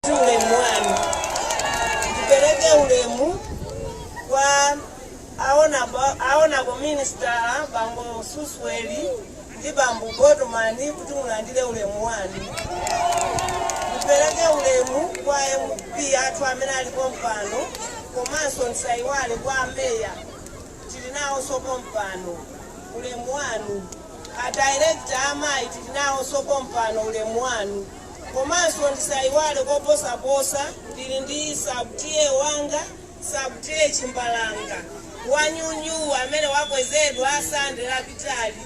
si ulemu wanu ndipereke ulemu kwa a Honourable Honourable Minister bambo Susuwele ndi bambo botomani kuti mulandire ulemu wanu ndipereke ulemu kwa mp athu amene ali pompano komanso ndisaiwale kwa ameya tili nawonso pompano ulemu wanu a Director amayi tili nawonso pompano ulemu wanu Komanso ndisaiwale koposaposa ndili ndi Sub-TA wanga Sub-TA Chimbalanga wa nyuwani amene wakwezedwa Sande lapitali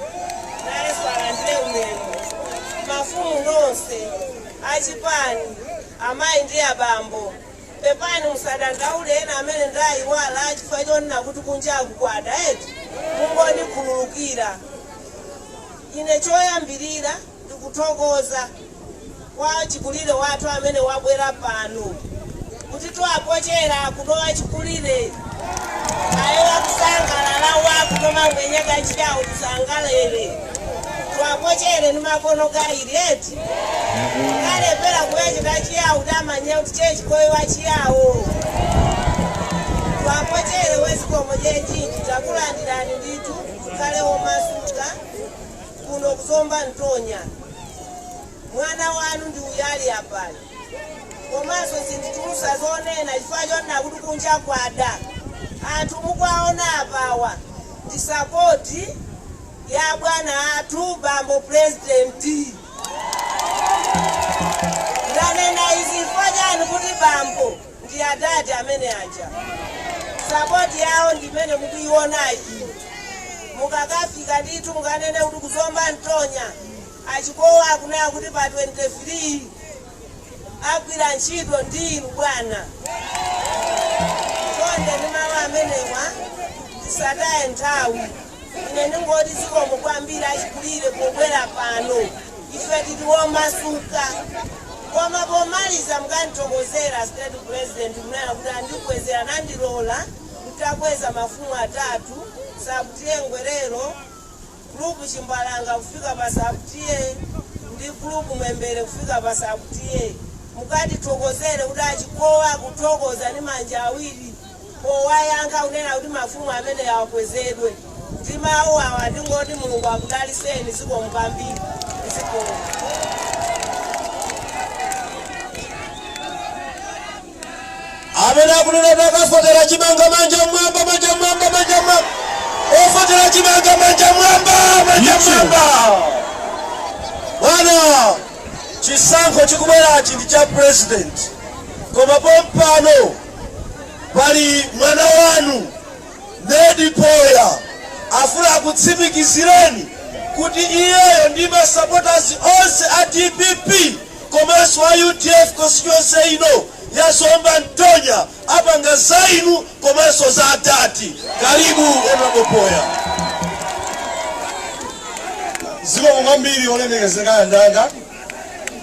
nayenso alandire ulemu. Mafumu nonse, achipani, amayi ndi abambo pepani musadandaule ena amene ndaiwala chifukwa chonena kuti kunjaku kwada eti mungondikhululukira. Ine choyambirira Tikutogola achikulile ŵetu amene wabwera pano kuti twapochele akuno wachikulire aye akusangalala uwe akuno mangwenya ga Chiyawo tisangalele twapochele ni makono gawili eti kulepela kuwecheta Chiyawo tamanyila kuti Che Chikowi wachiyawo twapochele zikomo kwejinji takulandirani ndithu mukhale omasuka kuno ku zomba ntonya mwana wanu ndi uyayi apayu komanso sinditulutsa zonena chifukwa chonena kuti kunja kwada anthu mukuwaona apawa ndi sapoti ya bwana athu bambo purezidenti ndanena izi chifukwa chani kuti bambo ndi adadi amene aja sapoti yawo ndi imene mukuionayi mukakafika ndithu mukanene kuti kuzomba ntonya a Chikowi akunena kuti pa 23 agwira ntchito ndi inu bwana chonde ndi mawu amenewa tisataye nthawi ine ndingoti zikomo kwambiri achikulire pobwera pano ife ndife omasuka koma pomaliza mukandithokozere state president ponena kuti andikwezera nandilola kuti ndikweze mafumu atatu Sub-TA Ngwelero group chimbalanga kufika pa Sub-TA ndi group Mwembere kufika pa Sub-TA mukandithokozere kuti a Chikowi akuthokoza ndi manja awiri powayankha kunena kuti mafumu amene akwezedwe ndi mawu awa ndingoti Mulungu akudalitseni zikomo kwambiri zikomo amene akunena kuti akavotera chimanga manja mwamba manja mwamba manja mwamba ovotera chimanga manja mwamba manja mwamba bwana chisankho chikubwerachi ndi cha president koma pompano pali mwana wanu Ned Poya afuna akutsimikizireni kuti iyeyo ndi masapotazi onse a dpp komanso a udf constituency ino ya Zomba Ntonya apanga za inu komanso za Atate Kalibu honorable Poya zikomo kwambiri olemekezeka anzanga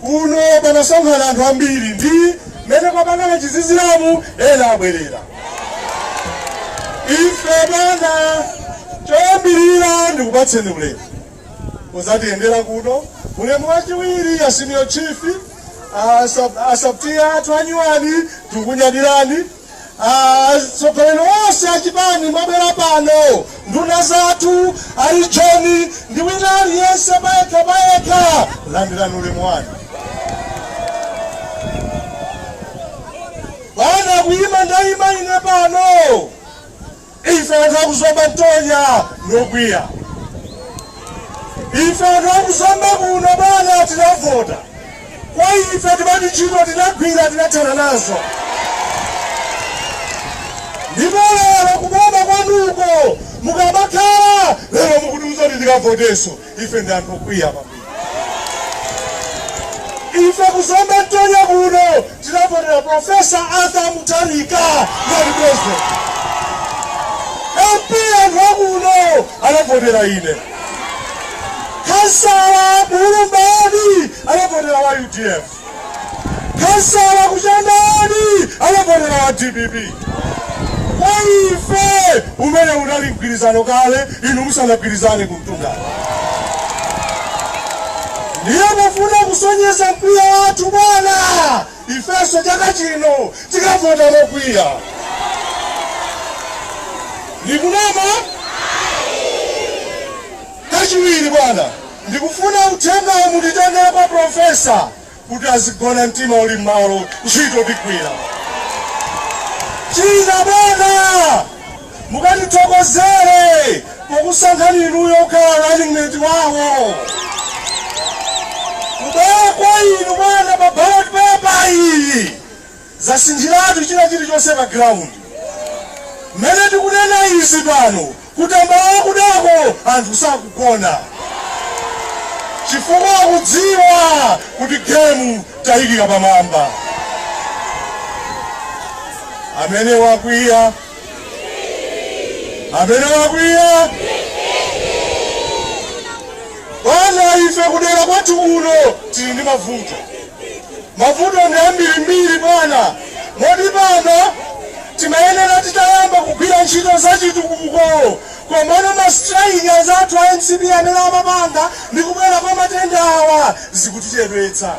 kuno panasonkhana anthu ambiri ndi mmene kwapangana chiziziramo ena abwerera ife bwana choyambirira ndikupatseni ulemu kudzatiyendera kuno ulemu wachiwiri a senior chief asabtiya athu anyuwani tikukunyadirani atsogoleri onse achipani mwabwera pano nduna zathu a region ndi wina aliyense payekha payekha landirani ulemu wanu bwana kuyima ndayima ine pano Ife anthu akuzomba Ntonya ndi okwiya. Ife anthu akuzomba kuno bwana tinavota. Kwa ife timati ntchito tinagwira tinathana nazo. Ndipo lero kuboma kwanuko mukamakhala lero mukutiuza kuti tikavotenso. ife ndi anthu okwiya kwambiri. Ife ku Zomba Ntonya kuno tinavotera Professor Arthur Mutharika ngati president. MP anthu akuno anavotera ine. Khansala ku Ulumba anavotera wa UDF. Khansala ku Chikanda ni anavotera wa dpp. Kwa ife umenewu unali mgwirizano kale inu musanagwirizane ku mtundako. Ndiye pofuna kusonyeza mkwiyo wathu bwana, ifenso chaka chino tikavota mokwiya. Ndikunama Chachiwiri bwana. Ndikufuna uthengawu munditengere kwa Professor kuti azigona mtima uli mmalo ntchito tigwira. China bwana mukatithokozere pokusankhani inuyo kukhala running mate wawo. Kubwera kwa inu bwana pa ballot paper iyi. Zasinthiratu china chirichonse pa ground. Mmene tikunena izi pano ku Tambala kunoko anthu sakugona chifukwa akudziwa kuti game tayiikira pamwamba. Amene wakwiya, amene wakwiya. Bwana ife kudera kwathu kuno tili ndi mavuto. Mavuto ndi ambirimbiri, bwana, moti pano timayenera titayamba kugwira ntchito za chitukuko. Komano ma style athu a mcp aja amapanga ndi kubwera kwa matenda awa zikutichedwetsa.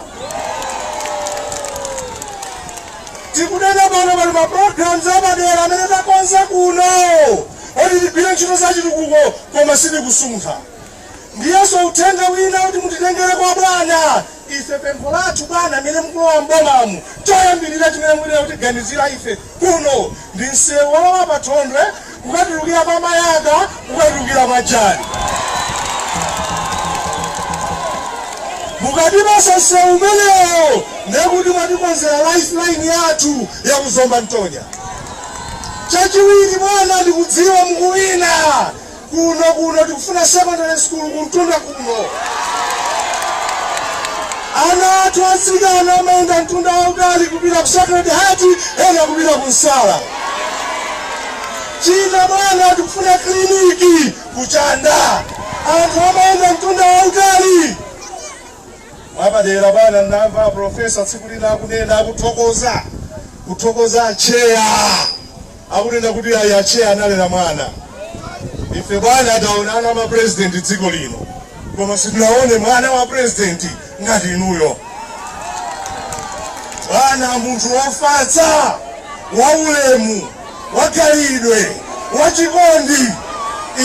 Tikunena pano pali ma programs apadera amene takonza kuno kuti tigwire ntchito za chitukuko koma sitikusuntha. Ndiyenso uthenga wina kuti mutitengere kwa bwana ife. Pempho lathu bwana amene mukulowa m'bomamu choyambirira chimene muyenera kutiganizira ife kuno ndi msewu wolowa pa Thondwe kukatulukira pa Mayaka kukatulukira pa Jali. Mukatipasa msewu umenewo ndiye kuti mwatikonzera life line yathu ya ku Zomba Ntonya. Chachiwiri bwana ndikudziwa mukuwina Kuno kuno tikufuna secondary school kumtunda kuno. Ana athu atsikana amayenda mtunda wautali kupita ku Sacred Heart, ena kupita ku Nsala. China bwana, tikufuna kiliniki ku Chanda, anthu amayenda mtunda wautali. Mwapadera bwana, ndinamva profesa tsiku lina akunena, akuthokoza kuthokoza atcheya akunena kuti ayi atcheya analera mwana. Ife bwana taona ana a ma president dziko lino koma sitinaone mwana wa president ngati inuyo bwana, munthu wofatsa, waulemu, wakhalidwe, wachikondi.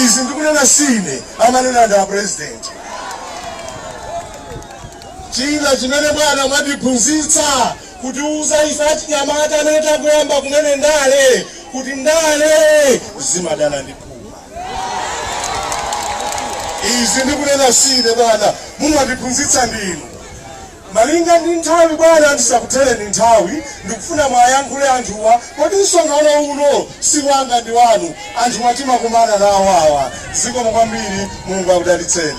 Izi ndikunena sine, amanena ndi a president. China chimene bwana mwatiphunzitsa kutiuza ife achinyamata amene tangoyamba kumene ndale kuti ndale zimadana ndi phuma. Izi ndikunena sine bwana, mumatiphunzitsa ndinu. Malinga ndi nthawi bwana, ndisakuthereni nthawi, ndikufuna mwayankhule anthuwa, poti msonkhano uno si wanga ndi wanu, anthuwa timakumana nawo awa. Zikomo kwambiri, Mulungu akudalitseni.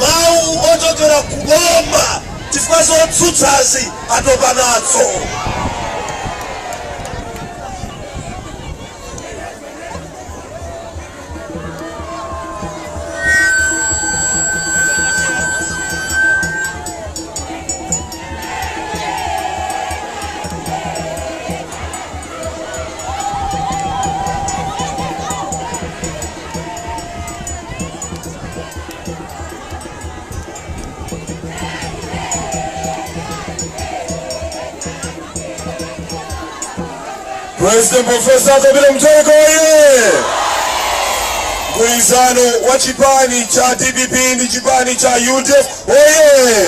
Mawu ochokera ku boma chifukwa zotsutsazi atopa nazo. President Profesa Peter Mutharika oye! Mgwirizano wa chipani cha DPP ndi chipani cha UDF oye!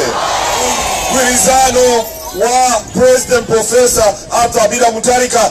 Mgwirizano wa President Profesa Kabila Mutharika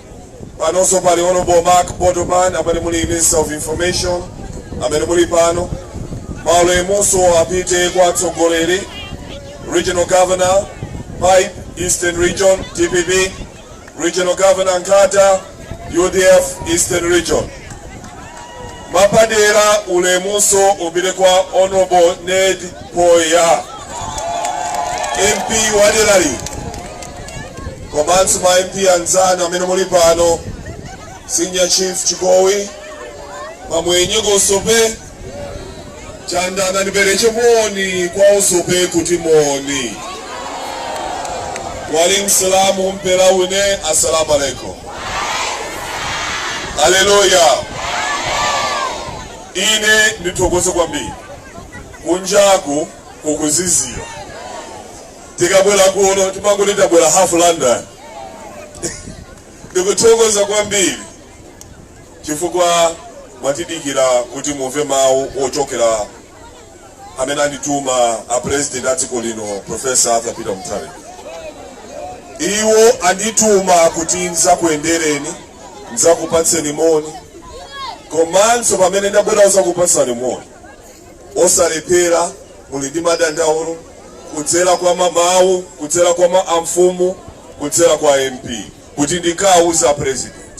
Panonso pali Hon. Mark Botopan amene muli Minister of Information amene muli pano. Maulemunso apite kwa atsogoleri, Regional Governor Pipe, Eastern Region, dpp, Regional Governor Nkhata, udf, Eastern Region. Mwapadera ulemunso upite kwa Hon. Ned Phoya, MP waderali komanso ma MP anzanu amene muli pano, Senior Chief Chikowi, Mamwenye Wosope, chandanda nipeleche moni kwa osope kuti moni wali msalamu mpela une assalamu alaikum haleluya ine ndithokoze kwambiri kunjaku kukuzizira tikabwera kuno timangoti tabwera half london ndikuthokoza kwambiri chifukwa mwatidikirira kuti mumve mawu ochokera kwa amene andituma a president a dziko lino profesa arthur peter mutharika iwo andituma kuti ndidzakuyendereni ndidzakupatseni moni komanso pamene ndabwera kudzakupatsani moni osalephera muli ndi madandaulo kudzera kwa mamawu kudzera kwa ma amfumu kudzera kwa mp kuti ndikawauze president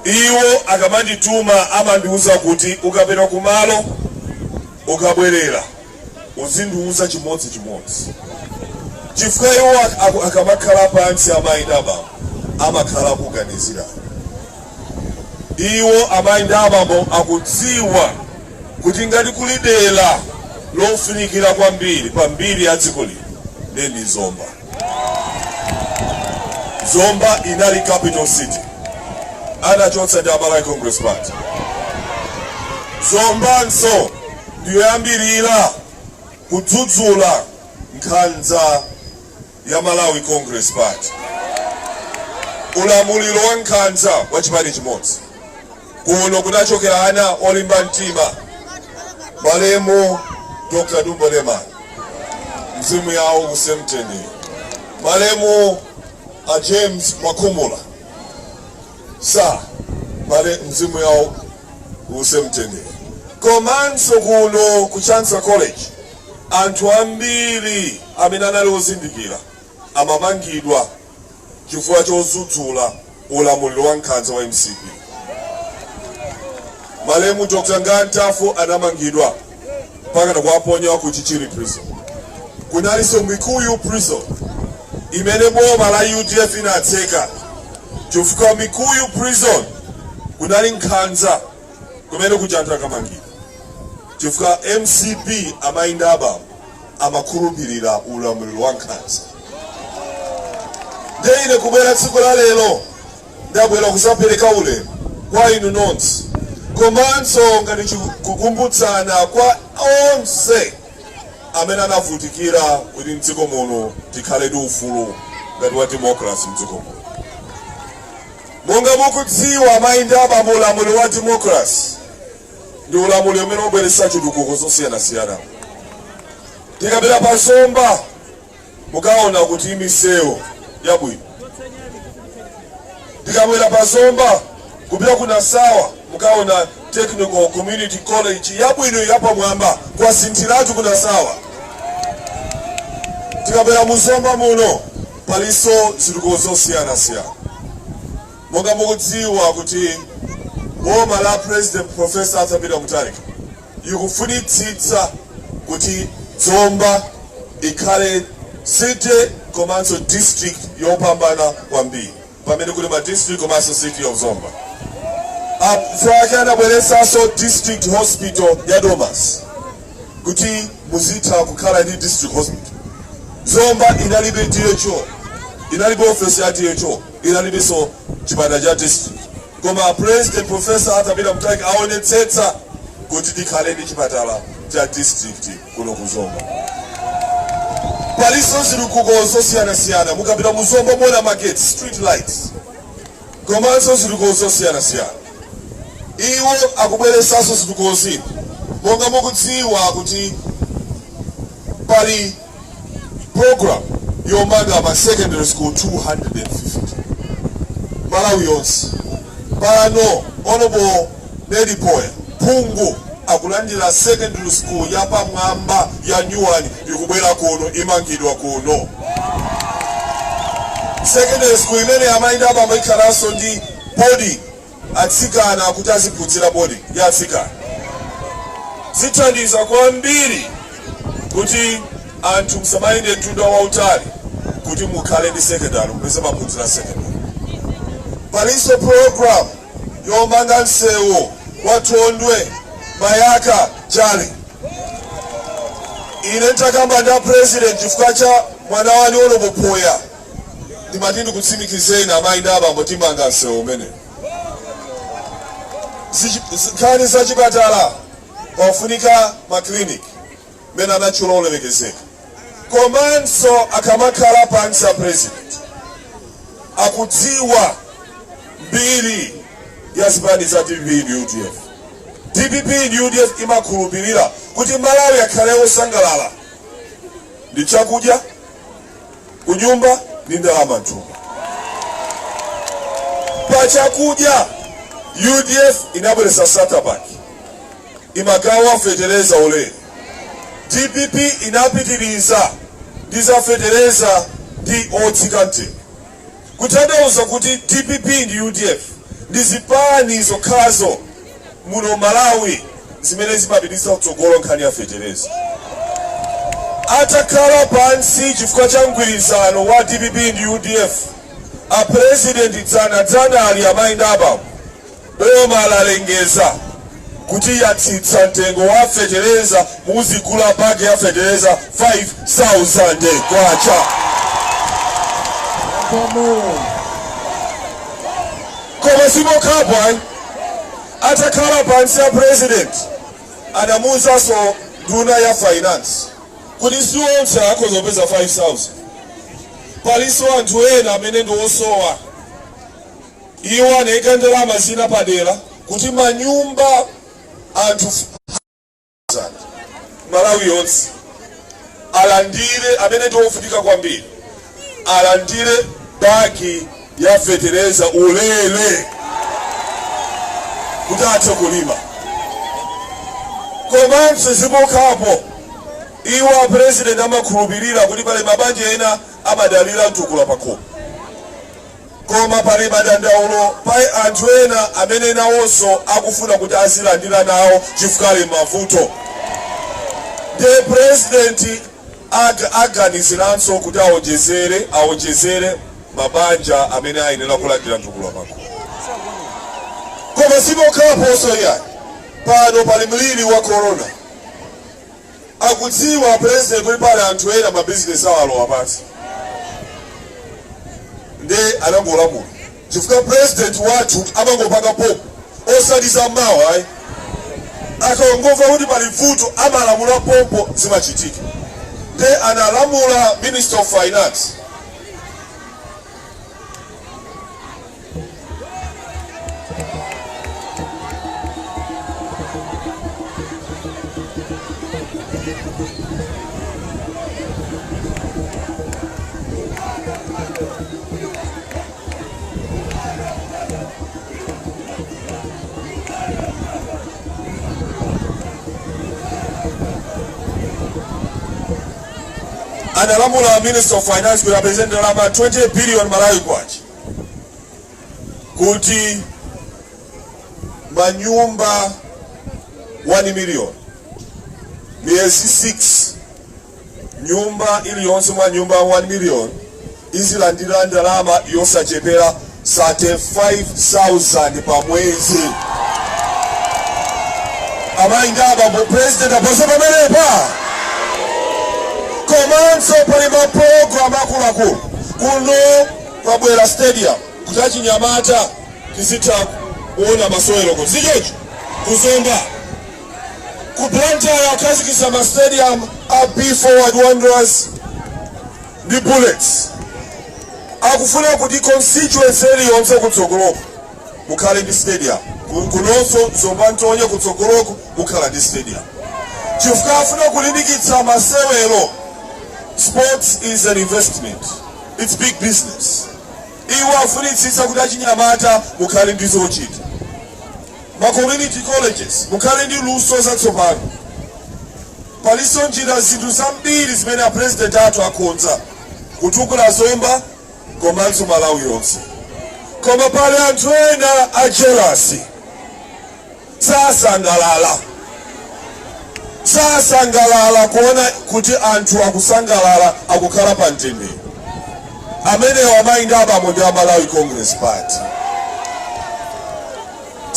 iwo akamandituma amandiuza kuti ukapita kumalo ukabwerera uzindiuza chimodzi chimodzi chifukwa iwo ak- ak- akamakhala pansi a Maindaba amakhala akuganizira iwo a Maindabawo akudziwa kuti ngati kuli dera lofunikira kwambiri pa mbiri ya dziko lino ndi zomba Zomba inali capital city anachotsa ndi a Malawi Congress Party. Zombanso ndiyoyambirira kudzudzula nkhanza ya Malawi Congress Party, ulamuliro wa nkhanza wa chipani chimodzi. Kuno kunachokera anthu olimba mtima, malemu Dr. Dumbo Lemani, mzimu wawo uuse mumtendere, malemu a James Makumula sa mzimu wawo uuse mumtendere. Komanso kuno ku Chancellor College anthu ambiri amene anali ozindikira amamangidwa chifukwa chodzudzula ulamuliro wa nkhanza wa mcp. Malemu Nga Ntafu anamangidwa mpaka kukawaponya ku Chichiri prison. Kunalinso Mikuyu prison imene boma la UDF inatseka chifukwa Mikuyu prison kunali nkhanza kumene kuja anthu akamangidwa chifukwa mcp amayi ndi abambo amakhulupirira ulamuliro wa nkhanza ndiye ine kubwera tsiku la lero ndabwera kuzapereka ulemu kwa inu nonse komanso ngati chikukumbutsana kwa onse amene anavutikira kuti mdziko muno tikhale ndi ufulu ngati wa demokrasi mdziko muno monga mukudziwa amayi ndi abambo ulamuliro wa demokrasi ndi ulamuliro umene ukubweretsa zitukuko zosiyanasiyana mukapita pa zomba mukaona kuli misewu yabwino mukabwera pa zomba kupita ku nasawa mukaona technical community college yabwino yapamwamba kwasinthiratu ku nasawa mukabwera mu zomba muno palinso zitukuko zosiyanasiyana Monga mukudziwa kuti boma la President Prof Arthur Peter Mutharika ikufunitsitsa kuti Zomba ikhale city komanso district yopambana kwambiri pamene kuli ma district komanso city of Zomba apfake akubweretsanso district hospital ya Domasi kuti muzitha kukhala ndi district hospital. Zomba inalibe DHO, inalibe office ya DHO. inalibenso chipatala cha district koma president professor arthur peter mutharika aonetsetsa kuti tikhale ndi chipatala cha district kuno ku zomba palinso zitukuko zosiyanasiyana mukapita mu zomba muona market street lights komanso zitukuko zosiyanasiyana iwo akubweretsanso zitukuko zina monga mukudziwa kuti pali program yomanga ma secondary school 250 m'malawi yonse pano honorable yunus poya phungu akulandira secondary school yapamwamba ya nyuwani ikubwera kuno imangidwa kuno secondary school imene amayi ndi abambo ikhalanso ndi boarding atsikana kuti aziphunzira boarding ndi atsikana zithandiza kwambiri kuti anthu asamayende mtunda wautali kuti mukhale ndi secondary mupeze maphunziro a secondary. Palinso program yomanga msewu wa Thondwe Mayaka Jali. Ine ntakamba ndi a president chifukwa cha mwana wanu Honorable Phoya. ndimati ndikutsimikizeni amayi ndi abambo timanga msewu umenewu nkhani za chipatala pafunika makiliniki amene anatchula olemekezeka komanso akamakhala pansi a president akudziwa mbiri ya zipani za dpp ndi udf dpp ndi udf imakhulupirira kuti amalawi akhale osangalala ndi chakudya kunyumba ndi ndalama mthumba, pachakudya UDF inabweretsa starter pack imagawa fetereza ulere DPP inapitiriza ndi za fetereza ndi otsikante Kuthandauza kuti dpp ndi udf ndi zipani zokhazo muno mmalawi zimene zimapititsa patsogolo nkhani ya fetereza. Atakhala pansi chifukwa cha mgwirizano wa dpp ndi udf, a president dzana dzanali amayi ndi abambo, Boma lalengeza kuti latsitsa mtengo wa fetereza muzigula bag ya fetereza 5000 kwacha koma sipokhapo ayi atakhala pansi a president anamuuzanso nduna ya finance kuti si onse akhoza kupeza 5000 palinso anthu ena amene ndi osowa Iwo anaika ndalama zina padera kuti manyumba a anthu Malawi yonse alandire amene ndi ovutika kwambiri alandire bagi ya fetereza ulere kuti athe kulima komanso sipokhapo iwo a president amakhulupirira kuti pali mabanja ena amadalira mtukula pakhomo Koma pali madandaulo pa anthu ena amene nawonso akufuna kuti azilandira nawo chifukwa ali m'mavuto ndiye a president aganiziranso kuti awonjezere mabanja amene ayenera kulandira mtukula pakhomo. Koma sipokhaponso iyayi pano pali mliri wa corona akudziwa president kuti pali anthu ena ma business awo alowa pansi nde anangolamula chifukwa president wathu amangopanga pompo osati za mawa ayi akangomva kuti pali vuto amalamula pompo zimachitika nde analamula minister of finance analamula minister of finance kuti apeze ndalama 20 billion malawi kwacha kuti manyumba 1 million miyezi 6 nyumba iliyonse mwa nyumba 1 million izilandira ndalama yosachepera 35000 pa mwezi amayi ndi abambo president aposa pamenepa komanso pali mapulogalamu akuluakulu kuno kwabwera stadium kuti achinyamata tizitha kuona masewero kodi sichoncho ku Zomba ku Blantyre akhazikitsa ma stadium a Be Forward Wanderers ndi Bullets akufuna kuti constituency iliyonse kutsogoloko kukhale ndi stadium Ku- kunonso Zomba Ntonya kutsogoloko kukhale ndi stadium chifukwa afuna kulimbikitsa masewero sports is an investment It's big business. Iwo afunitsitsa kuti achinyamata mukhale ndi zochita. Ma community colleges mukhale ndi luso zatsopano. Palinso njira zinthu zambiri zimene a president athu akonza kutukula Zomba komanso Malawi yonse. Koma pali anthu ena a jealousy. sasangalala sasangalala kuona kuti anthu akusangalala akukhala pa mtendere amenewo amayi ndi abambo ndi a malawi congress party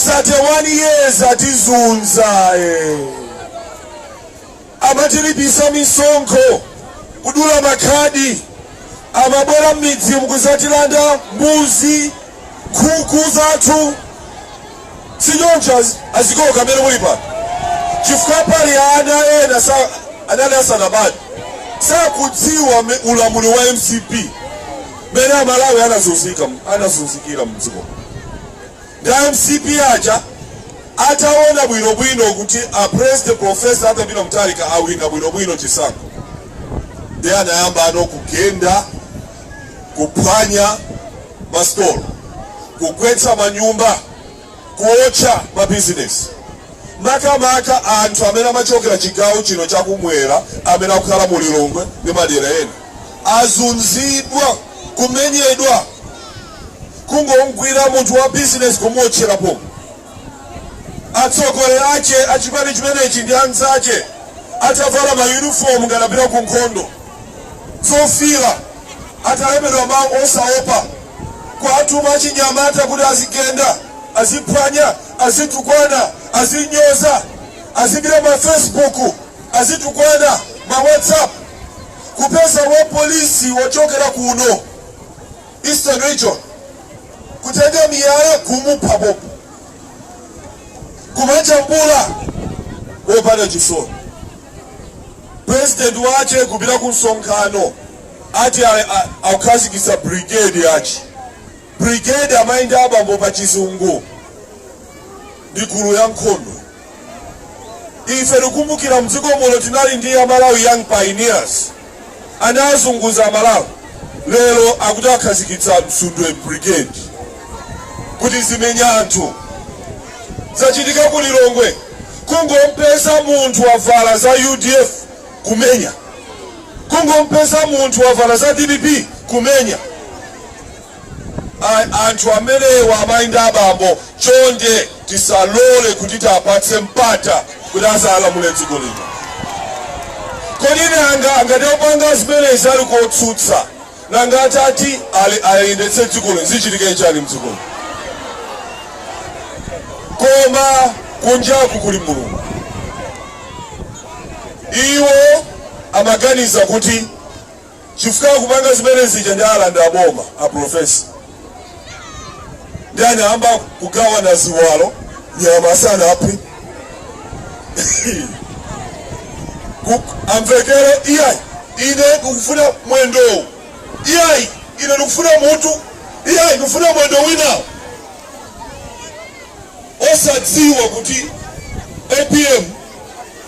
31 years atizunza eh. Amatilipisa misonkho, kudula makhadi, amabwera mmidzimu kuzatilanda mbuzi, nkhuku zathu sichoncho azigogo amene muli pano chifukwa pali ana ena sa anali asanabadwe sakudziwa ulamuliro wa mcp mene amalawi anazunzika anazunzikira mdziko A mcp aja atawona bwino bwino kuti a President Prof. Arthur Peter Mutharika awina bwino bwino chisankho nde anayamba no kugenda, kuphwanya ma store, kugwetsa manyumba, kuotcha ma business maka maka anthu amene amachokera chigawo chino cha kumwera amene akukhala mu Lilongwe ndi madera ena azunzidwa, kumenyedwa. kungogwira munthu wa business kumuotchera pompo atsogoleri ache achipani chimenechi ndi anzache atavala mayunifomu ngati akupita ku nkhondo zofira atalembedwa mawu osaopa kuatuma achinyamata kuti azigenda aziphwanya azitukwana azinyoza azipita ma facebook azitukwana ma whatsapp kupeza wapolisi wochokera kuno Eastern region kutenga miyala kumupha pompo kumajambula wopanda chisoni president wache kupita ku msonkhano ati akukhazikitsa brigade yake brigade amayi ndi abambo pa chizungu ndi gulu la nkhondo ife tikukumbukira mdziko muno tinali ndi amalawi young pioneers anazunguza amalawi lero akuti akhazikitsa msundwe brigade kuti izimenya anthu zachitika ku lilongwe kungompeza munthu wavala za udf kumenya kungompeza munthu wavala za dpp kumenya ai anthu amenewa amai ndi abambo chonde tisalole kuti tiapatse mpata kuti azalamule dziko lino kodi nanga ngati akupanga zimenezi ali kotsutsa nanga atati ayendetse dziko lino zichitika chani mdziko lino koma kunjaku kuli mulungu iwo amaganiza kuti chifukwa akupanga zimene zija nde alanda boma a profesa nde anayamba kugawana ziwalo nyama sanaphe amvekere iyayi ine ndikufuna mwendowu iyayi ine ndikufuna mutu iyayi ndikufuna mwendo winawo osadziwa kuti apm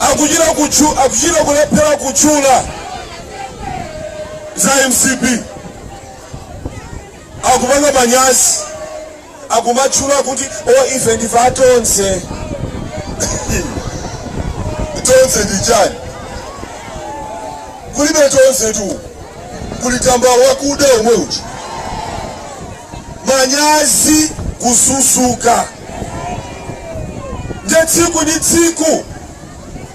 akuchita kutchu akuchita kulephera kutchula za mcp akupanga manyazi akumatchula kuti ife ndife atonse tonse ndi chani kulibe tonse tu kuli tambala wakuda omwe uchi manyazi kususuka nde tsiku ndi tsiku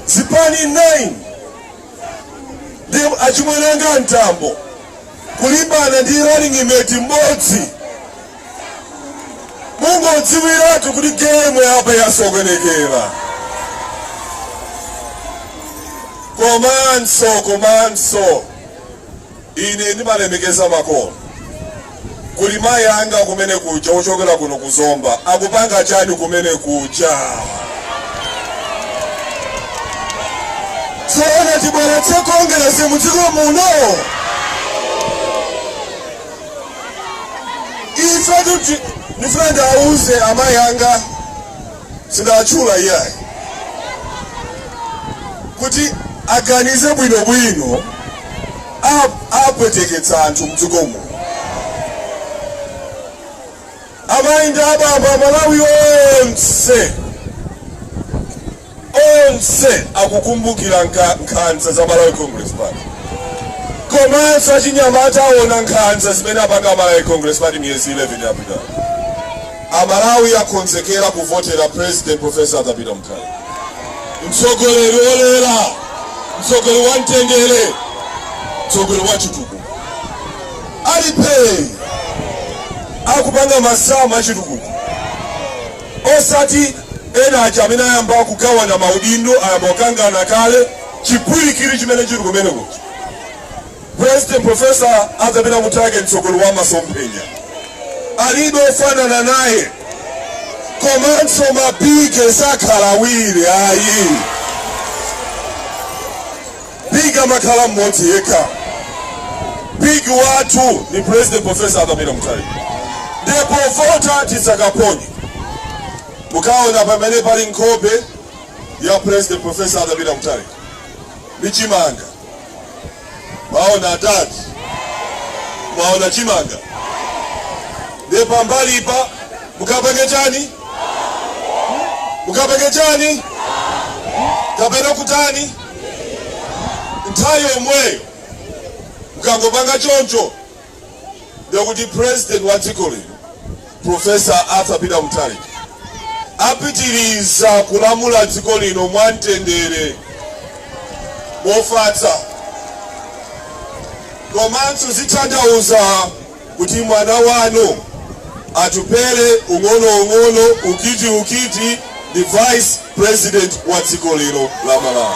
zipani 9 ndi achimwene anga mtambo kulimbana ndi running mate mmodzi mungodziwiratu kuti gemu yapa yasokonekera komanso komanso Ine ndimalemekeza makolo. Kuli mayi anga kumene kuja ochokera kuno ku Zomba akupanga chani kumene kuja? Zoona tibweretse Kongeresi mu dziko muno. Ndifuna ndauze amayi anga sindinatchule iyayi kuti aganize bwinobwino a- apweteketsa anthu mdziko muno amayi ndi abambo amalawi onse onse akukumbukira nka- nkhanza za malawi congress party komanso achinyamata aona nkhanza zimene apanga malawi congress party miyezi 11 yapitayo Amalawi akonzekera kuvotera president Prof. Arthur Peter Mutharika. Mtsogoleri wolera, mtsogoleri wa mtendere, mtsogoleri wa chitukuko. Ali pa Page akupanga masamu a chitukuko osati ena aja amene ayamba kugawana maudindo ayamba kukangana kale chipwirikiti chimene chili kumeneko President Professor Arthur Peter Mutharika mtsogoleri wa masomphenya alibe ofanana naye komanso mabigi sakhala awiri ayi big amakhala mmodzi yekha big wathu ndi president professor Arthur Peter Mutharika ndipo voti tidzakaponye mukaona pamene pali nkhope ya president professor Arthur Peter Mutharika ndi chimanga mwaona adadi mwaona chimanga ndiye pambalipa mukapange chani mukapange chani kapena kutani nthawi yomweyo mukangopanga choncho ndiye kuti president wa dziko lino Professor Arthur Peter Mutharika apitiriza kulamula dziko lino mwamtendere mofatsa komanso zitanthauza kuti mwana wanu Atupele ung'ono ung'ono ukiti ukiti ndi vice president wa dziko lino la Malawi